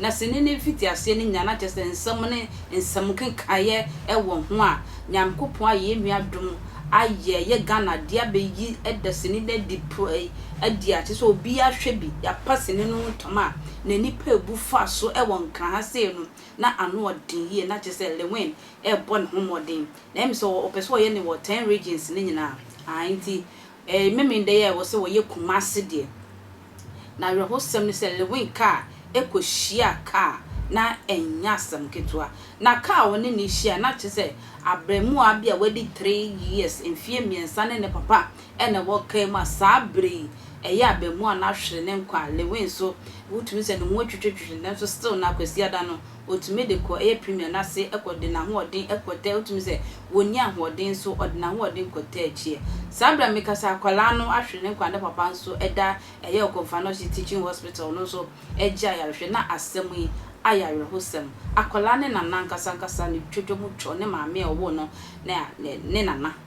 Na sini ne mfitiaseɛ no nyinaa, na kyerɛ sɛ nsɛm ne nsɛm nkekaeɛ wɔ ho a Nyankopɔn ayɛ yɛn nua adom ayɛ yɛ Ghana deɛ abɛyi da sini no adi adi a kyerɛ sɛ obiara hwɛ bi yɛapa sini no ntɔm a n'ani pɛ abu fa so wɔ nkran ha sei no na ano yɛ den yie na kyerɛ sɛ Lewin rebɔ ne ho mmɔden na ɛyɛ me sɛ ɔpɛ sɛ ɔyɛ no wɔ ten regions no nyinaa aah nti Ɛɛ, Memeneda yi a ɛwɔ sɛ wɔyɛ Kumasi deɛ, na awerɛhosɛm ne sɛ Lewin kaa kɔhyiaa kaa na ɛnyɛ asɛm ketewa. Na kaa a ɔne no rehyiae no, na kyerɛ sɛ abaamua bi a wadi three years, mfeɛ mmiɛnsa ne ne papa na ɛwɔ kaa mu a saa berɛ yi ɛyɛ abaamua no ahwere ne nkwa a, Lewin nso wotumi sɛ ne ho atwitwitwitwi nanso still nnɛ Akwasiada no, Ɔtumi de kɔ ɛyɛ premier no ase kɔ de n'ahoɔden kɔtɛ ɔtumi sɛ ɔnni ahoɔden nso ɔde n'ahoɔden kɔtɛ akyiɛ. Saa berɛ a meka sɛ akwadaa no ahwere ne nkwa ne papa nso da ɛyɛ Okomfo-Anokye Teaching Hospital no nso regye ayarehwɛ na asɛm yi ayɛ awerɛhosɛm. Akwadaa ne nana ankasa ankasa ne twotwa mu twɔ ne maame a ɔwoo no ne nana.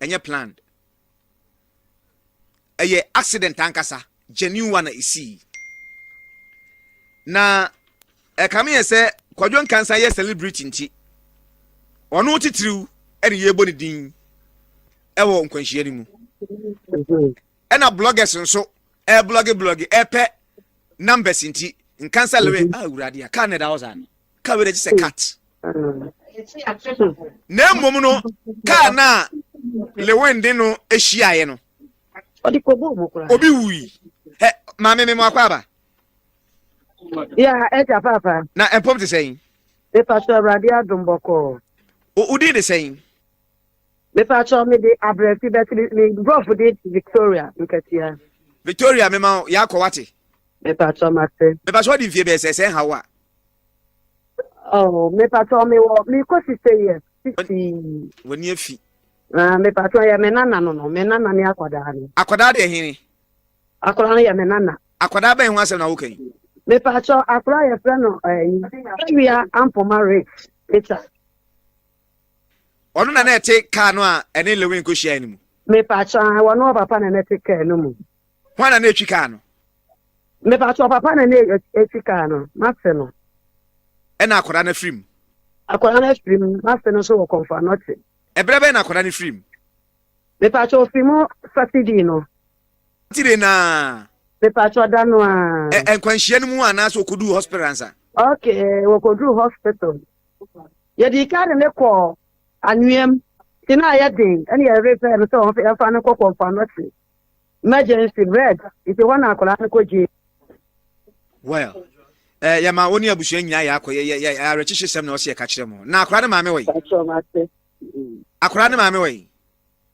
Ɛnyɛ planned. Ɛyɛ accident ankasa, genuine one na esii. Na ɛkame yɛ sɛ Kwadwo Nkansah yɛ celebrity nti, ɔno titiriw ɛne yɛbɔ ne din ɛwɔ nkwanhyia no mu. Ɛna bloggers nso ɛblɔge blɔge ɛpɛ numbers nti Nkansah lere awurade a kaa na ɛda hɔ saa no. ka wei n'akyi sɛ kat na mmom no kaa no a lewin de no hyiaeɛ no obi wui hɛ maame me mu akɔ aba ya ɛgya paapa na mpom te sɛn mepa so awurade adom bɔkɔɔ wodin de sɛn Mepa kyɛw me de abrɛfi bɛte me me brɔfo de Victoria nkatia. Victoria me ma wo yɛ akɔ wate. Mepa kyɛw ma te. Mepa kyɛw di nfie bɛɛ sɛ sɛ nhaw a. Oh mepa kyɛw me wɔ me kɔ sise yɛ sisi. Wɔ ni afi. Ah mepa kyɛw yɛ me nana no no me nana ne akɔdaa no. Akɔdaa de ɛhene. Akɔdaa no yɛ me nana. Akɔdaa bɛn ho asɛm na woka yi. Mepa kyɛw akɔdaa yɛ frɛ no ɛyi. Eh, Ewia ampoma rich. Mepa. Ɔno na na ɛte kaa no a ɛne Lewin kohyiae no mu. Mepatwɔ ae, wɔne ɔpapa na na ɛte kaa no mu. Hwan na na etwi kaa no? Mepatwɔ ɔpapa na na etwi kaa no, mase no. Ɛna akwadaa no afiri mu. Akwadaa no afiri mu, mase no nso wɔ kɔmfɔ anɔkye. Ɛberɛ bɛn na akwadaa no firi mu? Mepatwɔ ofiri mu Saturday no. Saturday no ara? Mepatwɔ da no ara. Ɛ nkwanhyia no mu anaasɛ okoduu hospital ansa? Okay, wɔkoduu hospital. Yɛdii kan de no kɔɔ anweam, nti na ayɛ den, ɛne yɛn yere frɛɛ no sɛ ɔmfa no nkɔkɔ mpoano se emergency red, nti ɛhɔ na akwadaa no kɔgyee. Well, eh, yɛma wo ne abusua nyinaa yɛ akɔ, yɛ, yɛ, yɛ awerɛkyekye sɛm na ɔsɛ yɛka kyerɛ mo. Na akwadaa no maame wɔ yi? Akwadaa no maame wɔ yi?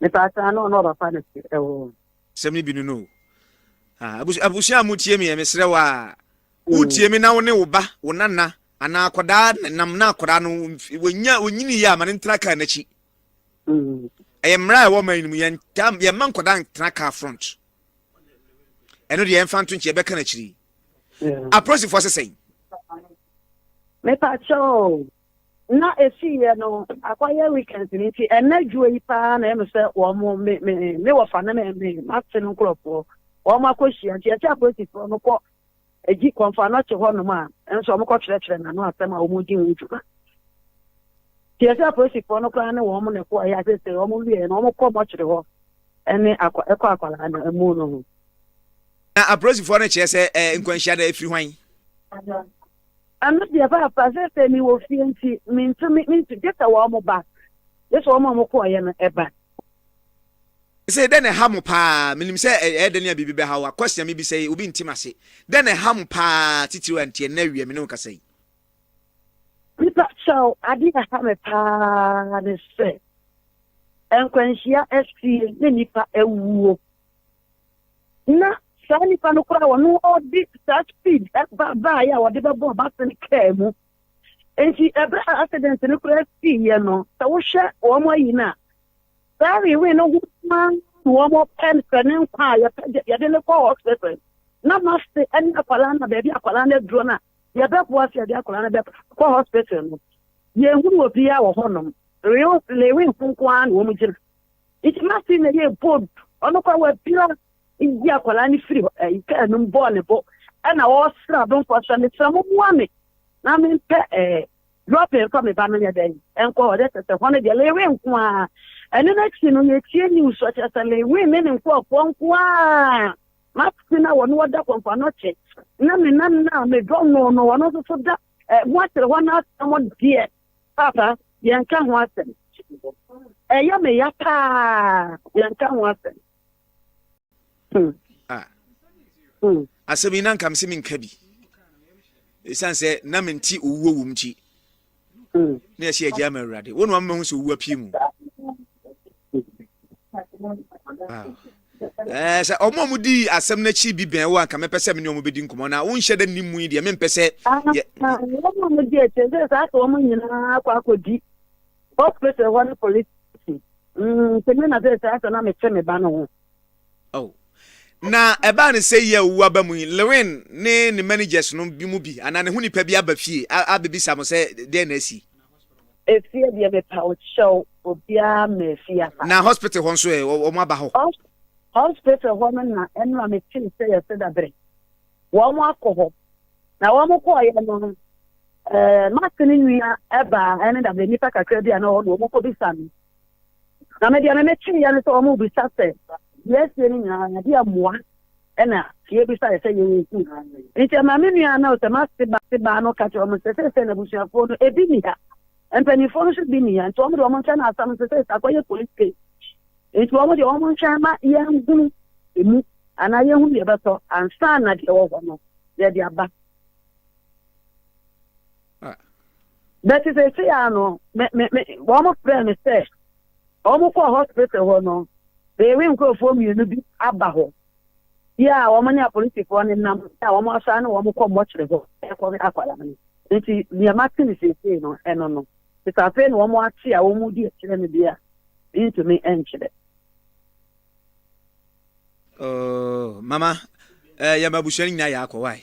Mepaakyɛ ano na ɔba pa ne se ɛwɔ. Sɛm ne bi no no o. Ah, abusua, abusua a motie me yɛ mesrɛ wo a wotie me na wo ne wo ba wo nana anaa akwadaa nam na akwadaa no wɔnya wɔnyini yɛ ama ne ntena kaa n'akyi ɛyɛ mmara a ɛwɔ ma no mu yɛntam yɛmma nkwadaa ntena kaa front ɛno deɛ yɛmfa nto nkyɛ ɛbɛka n'akyiri apolisifoɔ sesɛn mepa kyɛw Na efi yɛ no akwa yɛ weekends ni nti ɛnɛ dwuo yi paa na ɛmu sɛ wɔn mo me me me wɔfa ne me me mate no nkorɔfoɔ wɔn mo akɔ hyia nti ɛsɛ apolisifoɔ no kɔ egyi kɔnfa no te hɔ nom a nso wɔn kɔ kyerɛkyerɛ n'ano asɛm a wɔn di ho dwuma nti ɛsɛ apolisifoɔ no koraa ne wɔn mo na ɛkɔ ɛyɛ asese wɔn mo wie na wɔn kɔ mɔkyere hɔ ɛne akɔ ɛkɔ akwadaa no ɛmu no ho. Na apolisifoɔ no kyerɛ sɛ ɛɛ nkwanhyia no efiri hwan. Ɛno deɛ paapa, seesei mewɔ fie nti mentumi, mentumi, gye sɛ wɔn ba, gye sɛ wɔn a wɔkɔeɛ no ba. Seesei dɛn na ɛha mo paa? Menim sɛ ɛyɛ dɛn a biribi bɛha wo. Akwasia mebisa yi, obi nte m'ase. Dɛn na ɛha mo paa titiriw a nti ɛnnɛ awie a me ne wo kasa yi? Mepa kyɛw, ade a ɛha me paa ne sɛ nkwanhyia asie ne nnipa awuo. na saa nipa no koraa wɔn ɔde saa speed ɛba baayɛ a wɔde bɛbɔ ɔbase no kaa mu nti ɛbɛ a accident no koraa sii yɛ no sɛ wohwɛ wɔn ayi no a saa rewe no ho paa wɔn pɛ sɛ ne nkwa a yɛpɛ yɛde ne kɔ hospital na nurse ɛne akwadaa na baabi akwadaa no aduro no a yɛbɛboa sɛ yɛde akwadaa no bɛkɔ hospital no yɛnhunu obiara wɔ hɔnom rewe rewe nkonko ara na wɔn gyina Nti Martin na yɛɛ bold, ɔno kɔ wabira yi akwadaa no firi ɛyi kaa no mu bɔɔ ne bo ɛna ɔresra adomfoɔ sɛ mesra mo mua me na mempɛ ɛɛ lɔpɛ mfa me ba no nyɛ dɛn ɛnkɔ hɔ dɛ sɛ hɔ no deɛ lewe nko ara ɛno no akyi no yɛtie news ɔkyerɛ sɛ lewe ne ne nkurɔfoɔ nko ara Martin a wɔne wɔda kɔmfa no kye na me nana a medɔ no no ɔno nso so da ɛɛ mo akyerɛ hɔ no asɛm deɛ Papa, yɛnka ho asɛm. Ɛyɛ me ya paa, yɛnka ho asɛm. Hmm. Ah. Hmm. Asɛm yi na nka me se menka bi. Ɛsiane sɛ na mente owuo wom nti. Hmm. Na yɛhyɛ agya ma awurade. Wo na wama mahu sɛ owuo apue mu. Eh, sɛ ɔmo a wɔdi asɛm no akyi bi bɛn wo anka mɛpɛ sɛ me ne ɔmo bɛdi nkɔmmɔ na wonhyɛ dɛ nnim mu yi deɛ mempɛ sɛ ah, yɛ ah, wɔn a wɔdi akyire sɛ saa sɛ wɔn nyinaa akɔ akɔdi hospital hɔ ne police station mm, sɛ me na sɛ saa sɛ na mekyɛ me ba no ho oh. na ɛbaa ne sɛ yɛ owu aba mu yi lewin ne ne managers no bi mu bi anaa ne ho nipa bi aba fie abɛbisa mo sɛ deɛ na asi Efie deɛ mepa wo kyɛw obiara ma efie aba. Na hospital hɔ nso ɛ eh, wɔn aba hɔ. Hospital hɔ no na ɛno a metee sɛ yɛsɛ dabere. Wɔn akɔ hɔ. Na wɔn kɔɔyɛ no no ɛɛ mate ne nua ɛbaa ɛne dabere nipa kakra bi a na wɔn wɔn kɔ bisa no. Na me deɛ me metwe yɛ no sɛ wɔn bisa sɛ yɛsie no nyinaa yɛde amoa. Ɛnna yebisae sɛ yensi hɔ ara. Enti ɛmaa me nua a na ɔsɛ m'ase ba te baa no ka kyerɛɛ wɔn sɛ, Seesei n'abusuafoɔ no, ebi nni ha. Mpanimfoɔ no nso bi nni ha. Enti wɔn deɛ, wɔntwɛn asɛm no seesei, sɛ akɔyɛ police case. Enti wɔn deɛ, wɔntwɛn mma yɛnhunu emu anaa yɛnhunu deɛ ɛbɛtɔ ansa na deɛ ɛwɔ hɔ no, yɛde aba. Bɛte sɛ ɛsɛ ya no, me, me, me, wɔn frɛ me sɛ wɔn kɔ hospital hɔ no, bɛyɛwe nkurɔfoɔ mmienu bi aba hɔ. Bi a wɔn ne apolisifoɔ no nam, a wɔn asan ne wɔn kɔ mmɔkyere hɔ ɛkɔ akwadaa no. Nti nea mate ne seesei no, ɛno no. Nti afei na wɔn ate a wɔn di akyerɛ me deɛ a, ntumi nkyerɛ. Oh, mama, eh, yɛ ma abusua no nyinaa yɛ akɔ, why?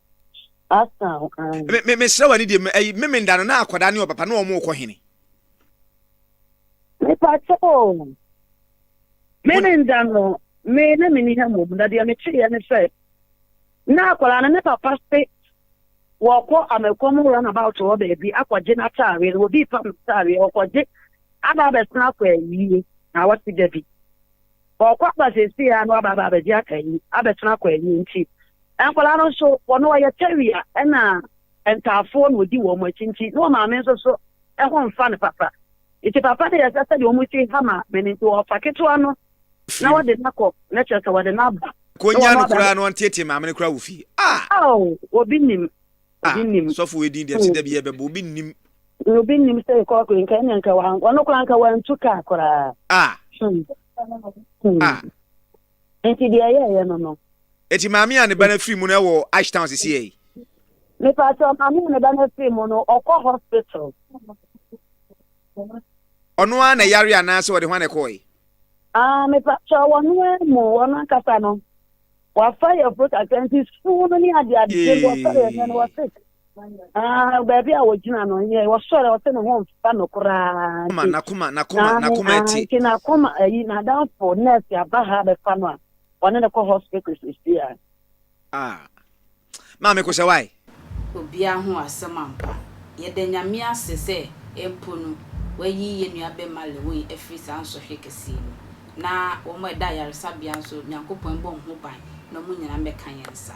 Pastor ho an. Me me mesrɛ w'ani deɛ me- ɛyi memenda no na akwadaa ne ɔpapa na wɔn rekɔ hene. Mepatɔ o. Me me nda no, me na menni ha mmom, na deɛ meteeɛ ne sɛ, na akwadaa no ne papa se wɔkɔ Amɛkɔm runabout hɔ baabi akɔgye n'ataareɛ no, wɔdii pam ataareɛ, ɔkɔgye aba abɛsan akɔ ayie, na wɔte da bi. Ɔkɔ aba seesei a na waba aba abɛgye akɔ ayie, abɛsan akɔ ayie nti, Nkwadaa no nso, wɔn wɔyɛ tɛwia na ntaafoɔ na wɔdi wɔn akyi nti na wɔn maame nso so ho mfa no papa. Nti papa no yɛ sɛ sɛdeɛ wɔn si ha maame no nti wɔfa ketewa no na wɔde no akɔ na kyerɛ sɛ wɔde no aba. Konya no koraa no ɔnteetee maame no koraa wɔ fie. Ah! Oh, obi nim. Ah, Obi nim. sɔfo wei din deɛ ɛte da bi yɛbɛbɔ obi nnim. Obi nim sɛ kɔɔko yi nka ɛnyɛ nka wɔn koraa nka wɔantu kaa koraa. Ah, Hmm. Hmm. ah. Nti deɛ ɛyɛɛyɛ no no. Nti maame a ne ba no afiri mu no ɛwɔ Ashtown sisi yɛ yi. Mepatɔ maame a ne ba no afiri mu no ɔkɔ hospital. Ɔno ara na ɛyare anaasɛ ɔde ho ana ɛkɔɔ yi. Ah, mepatɔ wɔno ara mu wɔn ankasa no wafa yɛ fruit asɛnti sukuu no ne adeade wɔfa yɛ no wɔsɛ. baabi a wɔgyina no yɛ wɔsɔre ɔsɛ ne ho mfa no koraa nti n'akoma n'akoma n'akoma ti nti n'akoma ayi n'adanfo nurse aba ha bɛfa no a ɔne no kɔ hospital sisi a. ah maame kò sɛ wae. obiara ho asɛm ampa. Yɛda Nyame ase sɛ mpo no wayi yɛn nua bɛma Lewoyi afiri saa nsɔhwɛ kɛseɛ mu na wɔn a ɛda ayaresabea nso Nyankopɔn mbɔ wɔn ho ban na wɔn nyinaa mmɛka yɛn nsa.